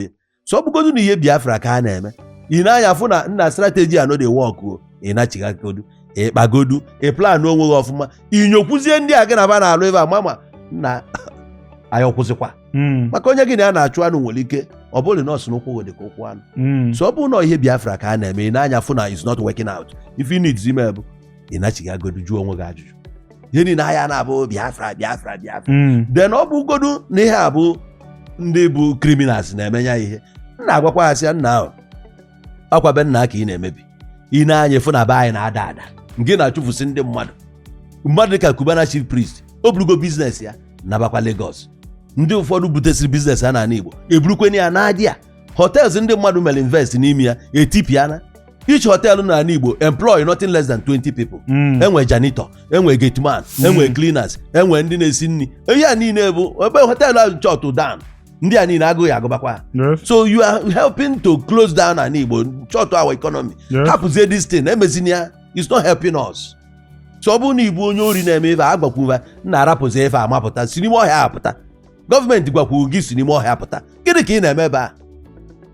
ihe so ọ bụgodu na ihe biafra ka a na-eme ị na-anya fụ na nna strateji a no dey work o ị nachighaagodu ị kpagodu ị plan onwe gị ọfụma inyokwuzie ndị a gị na ba na-alụ ebe a mama na anyị ọkwụsịkwa Mm, maka onye gị na ya na-achụ anụ nwere ike ọ bụrụ na ọ sị na ụkwụ gị dị ka ụkwụ anụ mm. so ọ bụrụ na ihe biafra ka a na-eme i nee anya fụ na is not working out ife ị need ime bụ ị nachighaagodu jụọ onwe gị ajụjụ ihe niile anyị na-abụ biafra biafra biafra Mm. then ọ bụgodu na ihe a bụ ndị bụ criminals na-eme ya ihe m na-agwakwa ha sị ya nna akwa be nna ka ị na-emebi i nee anya ị fụ na be anyị na-ada ada nke na-achụfusi ndị mmadụ mmadụ dịka Cubana chief priest o burugo biznes ya nabakwa Lagos ndị ụfọdụ butesịrị biznes ha n'ala Igbo eburukweni ya n'adị ya hotels ndị mmadụ mere invest n'ime ya etipiana each hotel na ala igbo employ nothing less than 20 people Mm. enwe janitor enwe gateman enwe cleaners enwe ndị na-esi nri ihe a niile bụ ebe hotel ahụ shut down ndị a niile agụụ agụbakwa ha Yes. so you are helping to close down ana igbo shut our economy Yes. hapụzie this thing emezina ya it's not helping us so ọ bụrụ na ị bụ onye ori na-eme ife a gbakwuva nna rapụzi ife a mapụta si n'ime ọhịa apụta gọọmenti gwakwuru gị si n'ime ọhịa pụta gịnị ka ị na-eme ebe a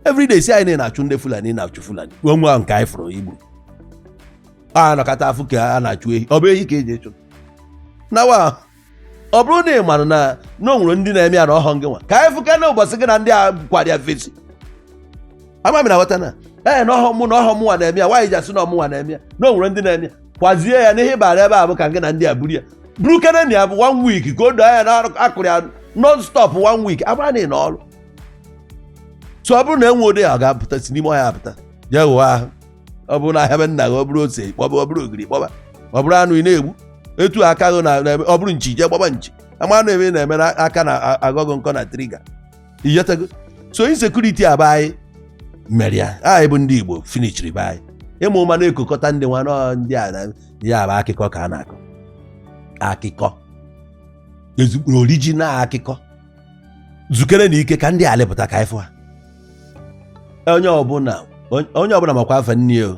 everyday sị anyị na-achụ ndị fulani na-achụ fulani wee nwa nke anyị fụrụ igbu a nọkọta afụ ka a na-achụ ehi ọ bụ ehi ka e ji achụ nawa ọ bụrụ na ị mara na na o nwere ndị na-eme ya na ọhọ gị nwa ka anyị fụka na ụbọchị gị na ndị a kwara ya fesi ama m na ghọta na ee na ọhọ mụ na ọhọ mụnwa na-eme ya nwaanyị ji asị na ọmụnwa na-eme ya na o nwere ndị na-eme ya kwazie ya na ihe ị bara ebe a bụ ka gị na ndị a buru ya buru keneni ya bụ one week ka o doo anya na a kụrụ ya non stop one week amara na ị nọ ọrụ so ọ bụrụ na enwedịghị ya ọ ga-apụta si n'ime ọhịa apụta jee ghụọ ahụ ọ bụrụ na ahịa be nna gị ọ bụrụ ose kpọba ọ bụrụ ogiri kpọba ọ bụrụ anụ ị na-egbu etu aka gị na na- ọ bụrụ nchi jee gbaba nchi ama na ebe ị na-eme na aka na-akọ gị ọkọ na triga ịghọtago so insekuriti a bụ anyị mere ya anyị bụ ndị igbo finichiri be anyị ị ma ụma na-ekokọta ndị nwa nọ ndị a na ya bụ akụkọ ka a na-akọ akụkọ ezigbo orijinal akụkọ zukere na ike ka ndị a lepụta ka ị fụ ha onye ọbụla onye ọbụla makwa afa nne o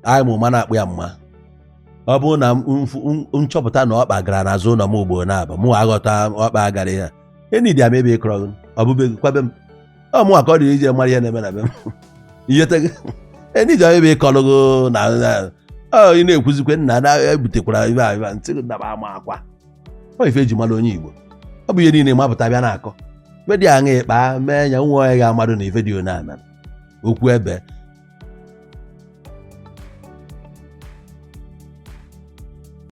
anyị ma ụma na-akpụ ya mma ọ bụrụ na m- mfu- m- nchọpụta na ọkpa gara n'azụ ụlọ m ugboro naabọ mụ aghọta ọkpa gara ya enidi ama ebe ịkọrọ gị ọ bụ be gị ọkwa be m ọ mụnwa ka ọ dịrị ije mara ihe na-eme na be m iyete gị enidi ama ebe ịkọrọ gị na na- ọ ị na-ekwuzikwe nna na ebutekwara ife a ife a, ntị gị daba ama akwa ọ ife eji mara onye igbo ọ bụ ihe niile mapụta bịa na-akọ ife dị aṅa ịkpa mee ya nwa onye ga-amadụ na ife dị one a mere okwu ebie